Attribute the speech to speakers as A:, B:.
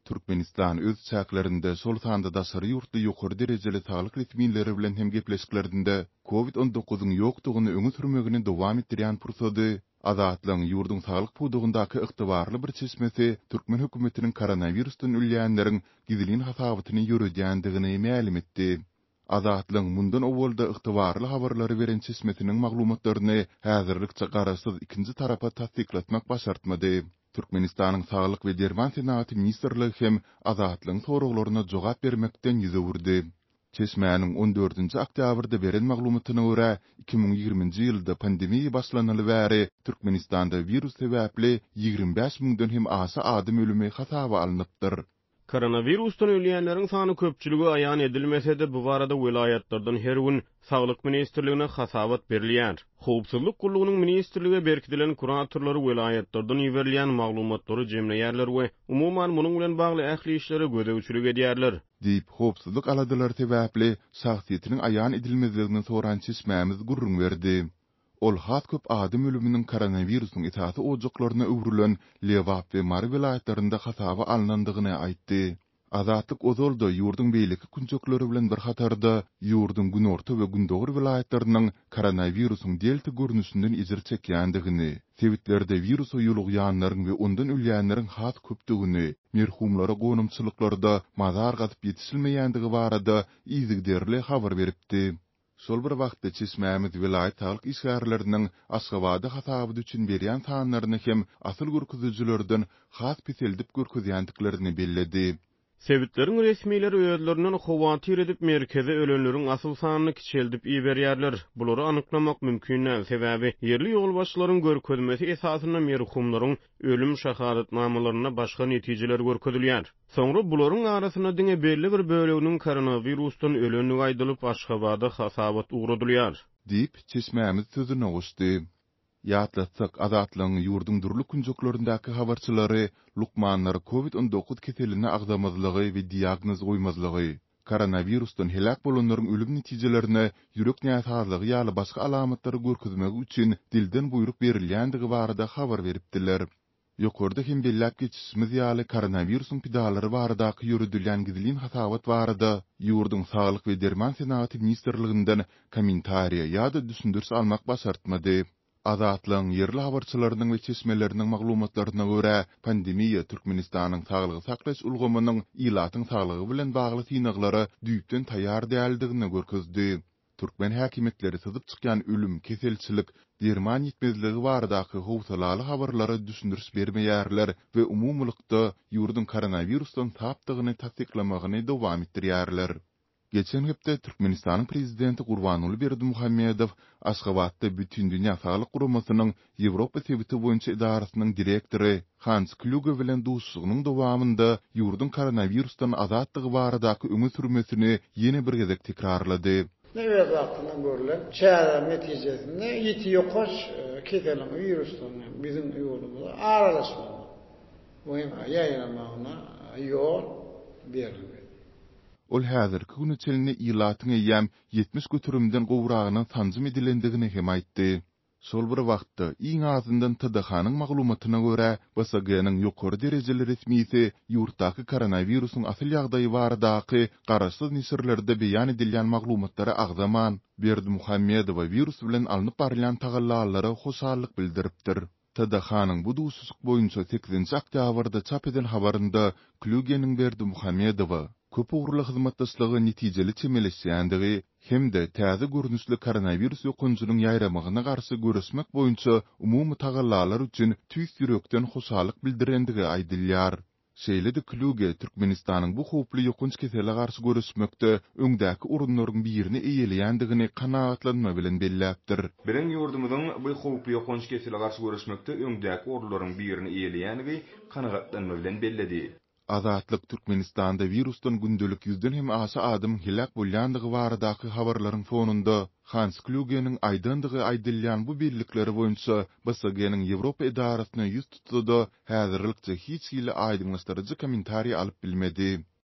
A: Türkmenistan öz çäklerinde, şol sanda daşary ýurtly ýokary derejeli saglyk resmileri bilen hem gepleşiklerinde Covid on dokuzyň ýokdugyny öňe sürmegini dowam etdirýän pursady Azatlygyň ýurduň saglyk pudagyndaky ygtybarly bir çeşmesi türkmen hökümetiniň koronawirusdan ölýänleriň gizlin hasabatyny ýöredýändigini mälim etdi. Azatlygyň mundan owalda ygtybarly habarlary beren çeşmesiniň maglumatlaryny häzirlikçe garaşsyz ikinji tarapa tassyklatmak başartmady. Türkmenistanyň Saglyk we derman senagaty ministrligi hem Azatlygyň soraglaryna jogap bermekden ýüz öwürdi. Çeşmäniň on dördünji oktýabrda beren maglumatyna görä, iki müň ýigriminji ýylda pandemiýa başlanaly bäri Türkmenistanda wirus sebäpli ýigrimi bäş müňden hem aşa adam ölümi hasaba alnypdyr. Koronawirusdan
B: ölýänleriň sany köpçülige aýan edilmese-de, bu barada welaýatlardan her gün Saglyk ministrligine hasabat berilýär. Howpsuzlyk gullugynyň ministrlige berkidilen kuratorlary welaýatlardan iberilýän maglumatlary jemleýärler we, umuman, munuň bilen bagly ähli işlere gözegçilik edýärler. Diýip, howpsuzlyk
A: aladalary sebäpli şahsyýetiniň aýan edilmezligini soran çeşmämiz gürrüň berdi. Ol has köp adam ölüminiň koronawirusyň esasy ojaklaryna öwrülen Lebap we Mary welaýatlarynda hasaba alnandygyny aýtdy. Azatlyk ozal-da ýurduň beýleki künjekleri bilen bir hatarda, ýurduň günorta we gündogar welaýatlarynyň koronawirusyň delta görnüşinden ejir çekýändigini, sebitlerde wirusa ýolugýanlaryň we ondan ölýänleriň has köpdügini, merhumlara gonamçylyklarda mazar gazyp ýetişilmeýändigi barada yzygiderli habar beripdi. Şol bir wagtda, çeşmämiz welaýat saglyk işgärleriniň Aşgabada hasabat üçin berýän sanlaryny hem asyl görkezijilerden has peseldip görkezýändiklerini belledi. Sebitleriň
B: resmileri özlerinden howatyr edip, merkeze ölenleriň asyl sanyny kiçeldip iberýärler. Bulary anyklamak mümkin däl, sebäbi ýerli ýolbaşçylaryň görkezmesi esasynda merhumlaryň ölüm şahadatnamalarynda başga netijeler görkezilýär. Soňra bularyň arasynda diňe belli bir böleginiň koronawirusdan ölendigi aýdylyp, Aşgabada hasabat ugradylýar. Diýip,
A: çeşmämiz sözüne goşdy. Ýatlatsak, Azatlygyň ýurduň dürli künjeklerindäki habarçylary lukmanlara covid-on dokuz keseline agzamazlygy we diagnoz goýmazlygy, Koronawirusdan heläk bolanlaryň ölüm netijelerine ýürek näsazlygy ýaly başga alamatlary görkezmegi üçin dilden buýruk berilýändigi barada habar beripdiler. Ýokarda hem belläp geçişimiz ýaly, koronawirusyň pidalary baradaky ýöredilýän gizlin hasabat barada ýurduň Saglyk we derman senagaty ministrliginden kommentariýa ýa-da düşündiriş almak başartmady. Azatlygyň ýerli habarçylarynyň we çeşmeleriniň maglumatlaryna görä, pandemiýa Türkmenistanyň saglygy saklaýyş ulgamynyň ilatyň saglygy bilen bagly synaglara düýpden taýýar däldigini görkezdi. Türkmen häkimiýetleri syzyp çykýan ölüm, keselçilik, derman ýetmezligi baradaky howsalaly habarlara düşündiriş bermeýärler we umumylykda ýurduň koronawirusdan sapdygyny tassyklamagyny dowam etdirýärler. Geçen hepde Türkmenistanyň Prezidenti Gurbanguly Berdimuhamedow Aşgabatda Bütindünýä Saglyk Guramasynyň Ýewropa sebiti boýunça edarasynyň direktory Hans Klýuge bilen duşuşygynyň dowamynda ýurduň koronawirusdan azatdygy baradaky öňe sürmesini ýene bir gezek tekrarlady. Nebit wagtynda
C: görlen çäreler netijesinde ýiti ýokanç keseliň wirusdan hem biziň ýurdumyza aralaşmagyna we hem ýaýramagyna ýol berilmedi.
A: Ol häzirki güne çenli ilatyň eýýäm ýetmiş göterimden gowragynyň sanjym edilendigini hem aýtdy. Şol bir wagtda, iň azyndan TDH-nyň maglumatyna görä, BSG-niň ýokary derejeli resmisi ýurtdaky koronawirusyň asyl ýagdaýy baradaky garaşsyz neşirlerde beýan edilýän maglumatlara agzaman, Berdimuhamedowa wirus bilen alnyp barylýan tagallalara hoşallyk bildiripdir. TDH-nyň bu duşuşyk boýunça sekizinji oktýabrda çap eden habarynda Klýugeniň Berdimuhamedowa köp ugurly hyzmatdaşlyga netijeli çemeleşýändigi hem-de täze görnüşli koronawirus ýokanjynyň ýaýramagyna garşy göreşmek boýunça umumy tagallalar üçin tüýs ýürekden hoşallyk bildirendigi aýdylýar. Şeýle-de Klüge Türkmenistanyň bu howply ýokanç kesele garşy göreşmekde öňdäki orunlaryň birini eýeleýändigini kanagatlanma bilen belläpdir. Biziň ýurdumyzyň
D: bu howply ýokanç kesele garşy göreşmekde öňdäki orunlaryň birini eýeleýändigi kanagatlanma bilen belledi. Azatlyk
A: Türkmenistanda wirusdan gündelik ýüzden hem aşa adamyň heläk bolýandygy baradaky habarlaryň fonunda, Hans Klýugeniň aýdandygy aýdylýan bu bellikler boýunça BSG-niň Ýewropa edarasyna ýüz tutsa-da, häzirlikçe hiç hili aýdyňlaşdyryjy kommentariý alyp bilmedi.